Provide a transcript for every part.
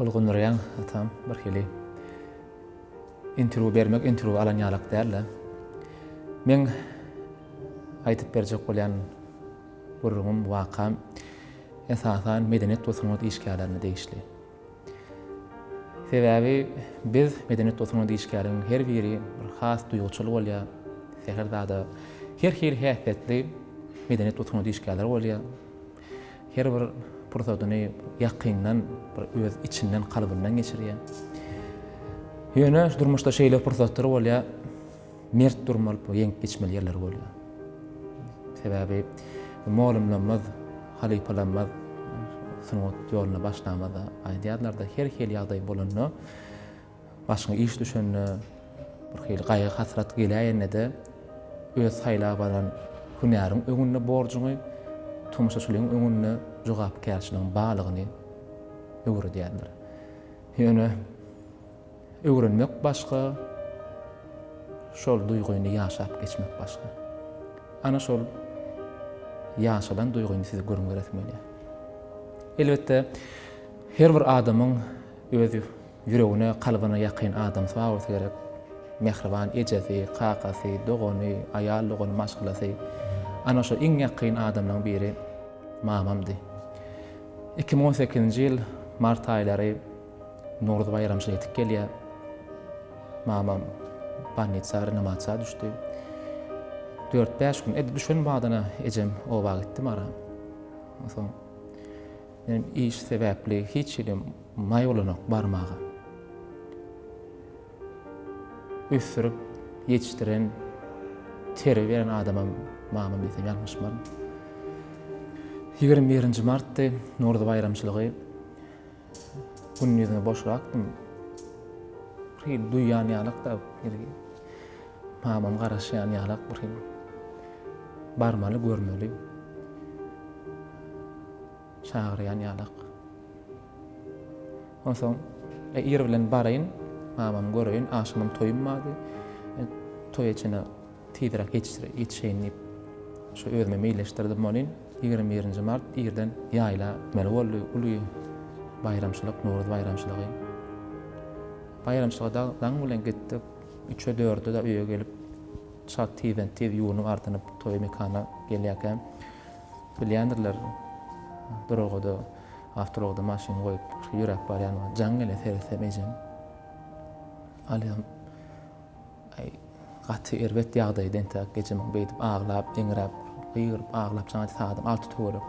Tolgundyrýaň atam birhili. Interwýu bermek interwýu alan ýalak dälde. Meň aýdyp berjek bolýan gürrüňim, wakam esasan medeniýet we sungat işgärlerine degişli. Sebäbi biz medeniýet we sungat işgäriniň her biri bir has duýguçyl bolýar. Säher zada her hili häsiýetli medeniýet we sungat işgärleri bolýar. Her bir pursatyny ýakyndan bir öz içinden kalbyndan geçirýär. Ýöne durmuşda şeýle pursatlar bolýar, mert durmaly, ýeňip geçmeli ýerler bolýar. Sebäbi molumlamaz, halypalanmaz sungat ýoluna başlamada aýdýarlar-da, her hili ýagdaý bolanda, Başyňa iş düşende, birhili gaýgy-hasrat geläýende-de, öz saýlap alan hünäriň öňünde borjuňy, tomaşaçylygyň öňünde jogapkärçiligiň barlygyny öwredýärler. Ýöne öwrenmek başga, şol duýgyny ýaşap geçmek başga. Ana şol ýaşalan duýgyny size gürrüň beresim gelýär. Elbetde, her bir adamyň öz Ýüregine, kalbyna ýakyn adam swawolsy gerek. Mähriban ejesi, kakasy, dogany, aýal dogany, maşgalasy. Ana şo iň ýakyn adamlaň biri mamamdy. Iki müň on sekizinji ýyl mart aýlary Nowruz baýramy şol ýetip gelýär. Mamam bolnitsa, renomatsa düşdi. Dört-bäş gün, edil düşen badyna ejem oba gitdi Mara. Onsoň, men iş sebäpli hiç ýerim Maý bolanok barmaga. Ösdürip ýetişdiren, terbiýe beren adamam mamam diýsem ýalňyşmaryn. Ýigrimi birinji martdy, Nowruz baýramçylygy. Gündizine boşrakdym. Bir hili duýýan ýalak-da, mamam garaşýan ýalak bir hili. Barmaly, görmeli. Çagyrýan ýalak. Onsoň ir bilen baraýyn, mamamy göreýin, agşamam toýum bardy. Toýa çenli tizräk ýetişeýin diýip, şo özüme meýilleşdirdim bolin. Ýigrimi birinji mart irden ýaýla gitmeli boldy. Uly baýramçylyk, Nowruz baýramçylygy. Baýramçylyga dagy daň bilen gitdik. Üçe-dörde-de öýe gelip, çalt tizden-tiz ýuwunyp-ardynyp, toý mekana gelýärkäm, Bilýändirler, duralgada, awtoulagda maşyny goýup, şu ýöräp barýanyma jaň gele seretsem ejem. Alýam. Aý, gaty erbet ýagdaýda entäk ejemiň beýdip aglap, eňräp, gygyryp aglap çaňy saýadym alty töwerek.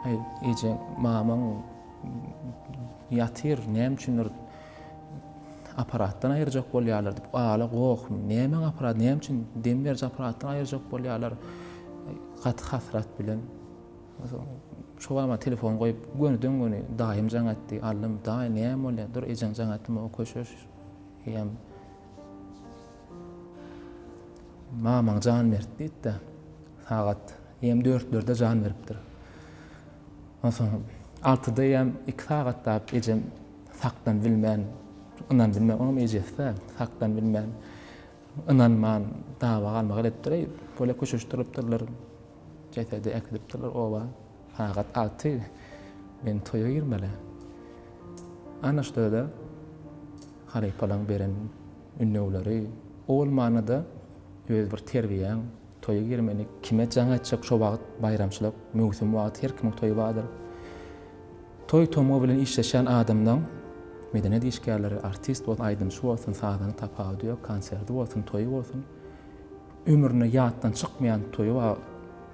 Aý, ejeň, mamaň ýatyr, näme üçindir, Aparatdan aýyrjak bolýarlar diýip, Ala goh, nämäň aparaty, näme üçin dem beriji aparatdan aýyrjak bolýarlar? Gaty hasrat bilen. Şobama telefon goýup, gönüden göni daýym jaň etdi. Allym, daýy näme bolýar? Dur, ejeň jaň etdim, o köşeş. Eýýäm mamaň jan berdi diýdi-de, sagat eýýäm dörtlerde jan beripdir. Onsoň altyda eýýäm iki sagat dap ejem Sakdan bilmän, ynan bilmän, olam ejesi-dä, sakdan bilmän, ynanman dawa galmak edipdir, bolýa köşeşdiripdirler, jesedi äkidipdirler oba, sagat alty, men toýa girmeli. Ana şda-da halypalaň beren ündewleri, o bolmanda-da öz bir terbiýäň, toýa girmeli, kime jaň aýtjak şo wagt, baýramçylyk, möwsüm wagty, her kimiň toýy bardyr. Toý-tomgy bilen işleşýän adamlaň, medeniýet işgärleri, artist bolsun, aýdymçy bolsun, sazany tapawudy ýok, konserti bolsun, toýy bolsun, ömründe ýatdan çykmaýan toýy bar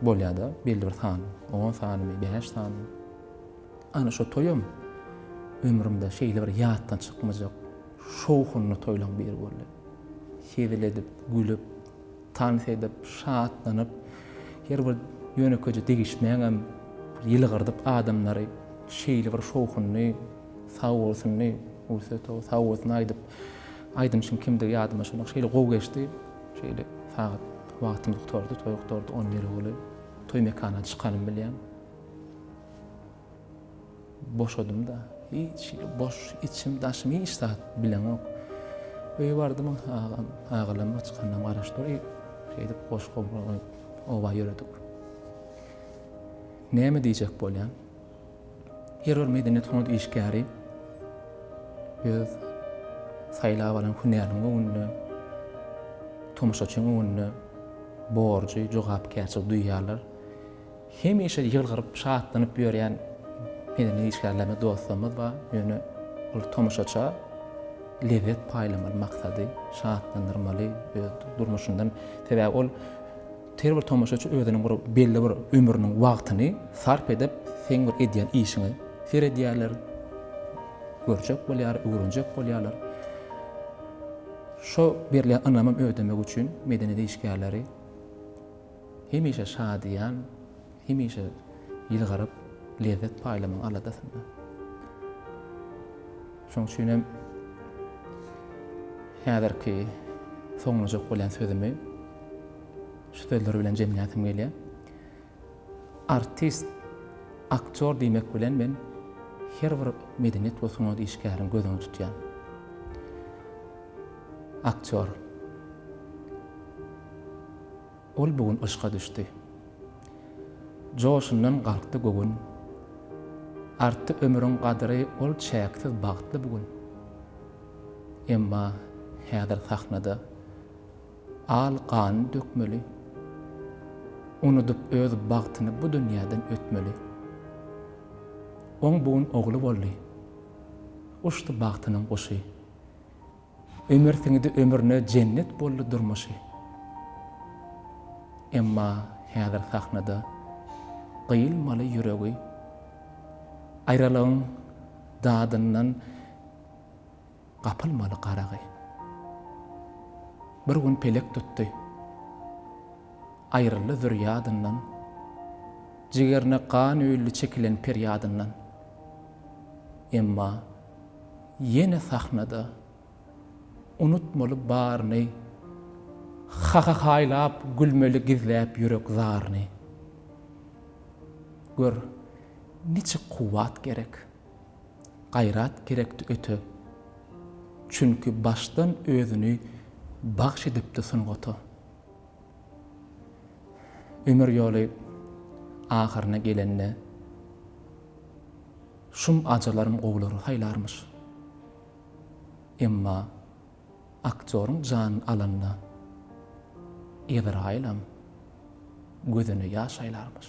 bolýar-da, belli bir sany, on sanymy, bäş sanymy. Ana şo toýam ömrümde şeýle bir ýatdan çykmajak şowhunly toýlaň biri boldy. Hezil edip, gülüp, Tans edip, şatlanyp, her bir ýönekeje degişmäňem ýylgyrdyp adamlary şeýle bir şowhunly, sagbolsunly, Ursetow, sagbolsun aýdyp, aýdymçyň kimdigi ýadyma düşenok, şeýle gowy geçdi, şeýle sagat wagtymyz gutardy, toý gutardy, on biri uly toý mekana çykalym bilýän. Boşadym-da. Hiç hili boş, içim, daşym hiç zat bileňok. Öýe bardym, agam, agalam aç karna garaş dur, iýip, şeýdip goş-gobra goýup, oba ýöredik. Näme diýjek bolýan? Her bir medeniýet sungat işgäri öz saýlap alan hünäriniň öňünde, tomaşaçyň öňünde borjy, jogapkärçiligi duýýarlar. Hemişe ýylgyryp, şatlanyp ýörýän medeni işgärlerimiz, dostlarymyz bar. Ýöne ol tomaşaça lezzet paýlamaly maksady, şatlandyrmaly öz durmuşyndan. Sebäbi ol her bir tomaşaçy özüniň bir belli bir ömrüniň wagtyny sarp edip, seň bir edýän işiňe seredýärler, görjek bolýar, öwrenjek bolýarlar. Şo berilýän ynamy ödemek üçin medeniýet işgärleri. Hemişe şadyýan, hemişe ýylgyryp, lezzet paýlamagyň aladasynda. Şonuň üçin hem häzirki soňlanjak bolýan sözümi şu sözler bilen jemläsim gelýär. Artist, aktýor diýmek bilen men her bir medeniýet we sungat işgärini göz öňünde tutýan. Aktýor. Ol bu gün yşka düşdi. Joşundan galkdy göwün. Artdy ömrüň gadyry ol çäksiz bagtly bu gün. Emma häzir sahnada al ganyny dökmeli. Unudyp öz bagtyny bu dünýäden ötmeli. Oň bu gün ogly boldy. Uçdy bagtynyň guşy. Ömer siňidi ömrüne jennet boldy durmuşy. Emma häzir sahnada gyýylmaly ýüregi. Aýralygyň dadyndan gapylmaly garagy. Bir gün pelek tutdy. Aýryldy zür ýadyndan. Jigerine gan öýldi çekilen perýadyndan. Emma. Ýene sahnada Unutmaly baryny Hahahaýlap gülmeli Gizläp ýürek zaryny Gör, niçik kuwwat gerek Gaýrat gerekdi öte Çünki başdan özüni Bagş edipdi sungata Ömür ýoly ahyryna gelende, Şum ajalaram gowulary saýlarmyş. Emma aktýoryň janyny alanda Ezraýylam gözüne ýaş aýlarmyş.